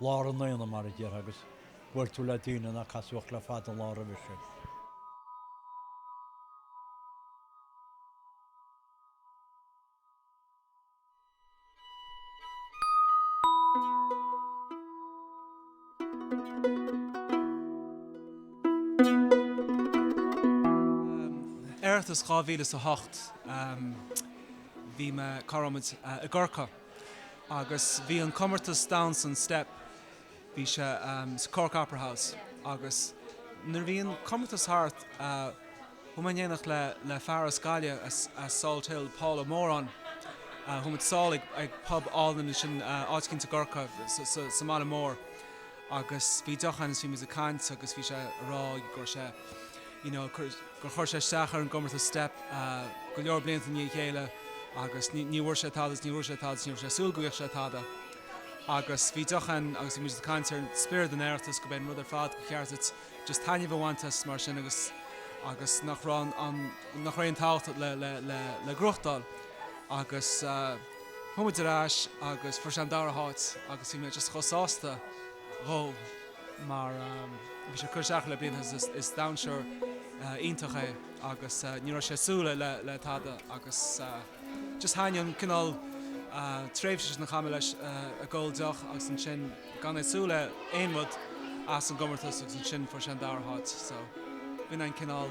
Lár an aonaigh, mar a déarfá, agus bhuail tú le daoine nár casadh ort le fada an lá roimhe sin. Oireachtas 2008 bhí mé, cá raibh muid, i gCorcaigh. Agus bhí an comórtas damhsa step, bhí sé sa Cork Opera House agus nuair a bhí an comórtas thart chuaigh mé in éineacht le le fear as Gaillimh as Salthill Paul Moran chuaigh muid sall ag pub álainn ansin áit eicínt i gCorcaigh sa mbaile mór. Agus bhí deoch ann agus bhí muid ag caint agus bhí sé ag rá go raibh sé, you know, gur chuir sé isteach ar an gcomórtas Steip go leor blianta i ndiaidh a chéile agus ní bhfuair sé tada agus ní bhfuair sé tada agus ní raibh sé ag súil go bhfaigheadh sé tada. Agus bhí deoch ann agus bhí muid ag caint ar spiorad an Oireachtais, gurb é an rud ar fad, ba cheart duit just taitneamh a bhaint as mar sin agus agus nach raibh an, nach raibh aon tábhacht le, le, le, le gnóthachtáil. Agus. Chuaigh muid ar ais agus fuair sé an dara háit agus bhí mé just chomh sásta dhó mar bhí sé ag cur isteach le blianta. Is damhsóir iontach é agus ní raibh sé ag súil le tada agus just thaitnigh an cineál tréimhse sin a chaith mé leis ag ól deoch agus ansin gan é ag súil le aon rud as an gcomórtas agus ansin fuair sé an dara háit so b'in an cineál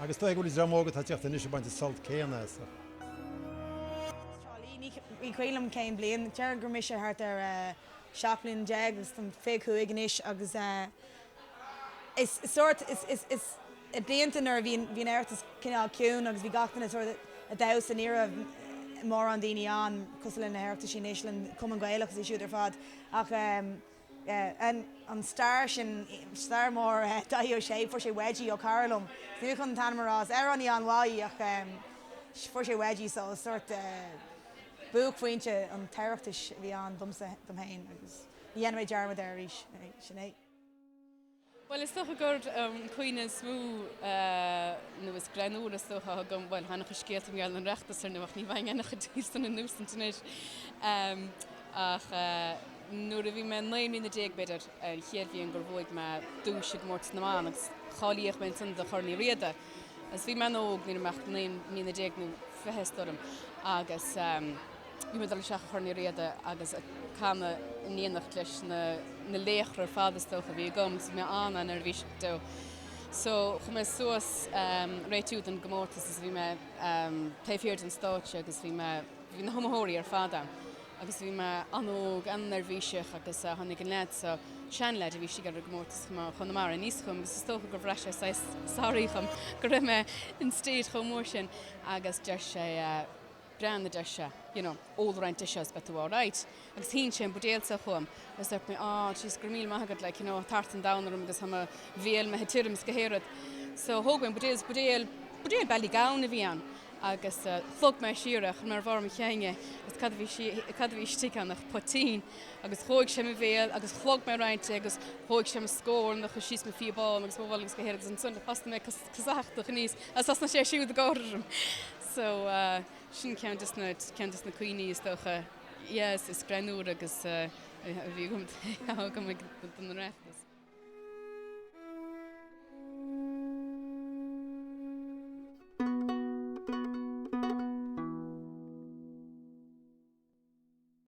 Agus toisc go bhfuil dream óg atá ag teacht anois ag baint an sult céanna as an. Ní cuimhin liom cén bliain, déarfainn go raibh mise thart ar 17 bliana agus táim 25 anois agus is sórt, is i blianta nuair a bhí an tOireachtas cineál ciúin agus bhí gach duine sórt ag damhsa, ní raibh mórán daoine ann cosúil le na hOireachtaisí anois, le an Cumann Gaelach agus iad siúd ar fad ach. an star sin, star mór Dáithí Ó Sé, fuair sé Wedgie ó chara liom, níl mé chun an t-ainm a rá, is amhránaí an-mhaith í ach fuair sé Wedgie so is sórt buaicphointe an Oireachtais a bhí ann domsa, dom féin agus ní dhéanfaidh mé dearmad air arís, sin é. Bhuel, is dócha gur an cuimhne is mó, nó is greannmhaire is dócha, a thug dom, bhuel, tá an-chuid scéalta i ngeall ar an Oireachtas, ar ndóigh, ach ní bheinn ábalta cuid díobh san a insint anois, ach nuair a bhí mé naoi mbliana déag, b'fhéidir, an chéad bhliain gur bhuaigh mé duais i gcomórtas na mban agus cáilíodh mé ansan do Chorn Uí Riada, agus bhí mé an-óg, ní raibh mé ach naoi mbliana déag nó fiche, is dóigh liom, agus. Ag cur isteach ar Chorn Uí Riada agus ag canadh in éineacht leis na laochra ar fad, is dócha. Bhí agam, agus bhí mé an-neirbhíseach dó so chuaigh mé suas ag réiteach don gcomórtas agus bhí mé taobh thiar den stáitse agus bhí mé, bhí na hiomaitheoirí ar fad ann agus bhí mé an-óg, an-neirbhíseach agus tháinig an leaid so, seanleaid a bhí istigh sa gcomórtas chomh maith, ó Chonamara, aníos chugam agus is dócha gur bhraith sé saghas sorry dhom go raibh mé in stage chomh mór sin agus deir sé. breathnaigh ar seisean, you know, ól roinnt de seo is beidh tú alright agus shín sé an buidéal seo chugam agus dúirt mé ah jeez go raibh míle maith agat like you know tart an domhain orm agus tá mo bhéal, bhí sé tirim 's gach aon rud so thóg mé an buidéal 's buidéal buidéal Ballygowan a bhí ann agus shlog mé siar é chuir mé ar bharr mo cheann é agus cad a bhí si cad a bhí istigh ann ach poitín agus dhóigh sé mo bhéal agus shlog mé roinnt de agus dhóigh sé mo scornach ar fad síos mo phíobán agus mo bholg 's gach aon rud agus ansin thosaigh mé ag casachtach aníos agus thosnaigh sé siúd ag gáire orm So, sin ceann de na, ceann de na cuimhní is dócha, yeah, is greannmhaire a bhí agam, atá agam ag an Oireachtas.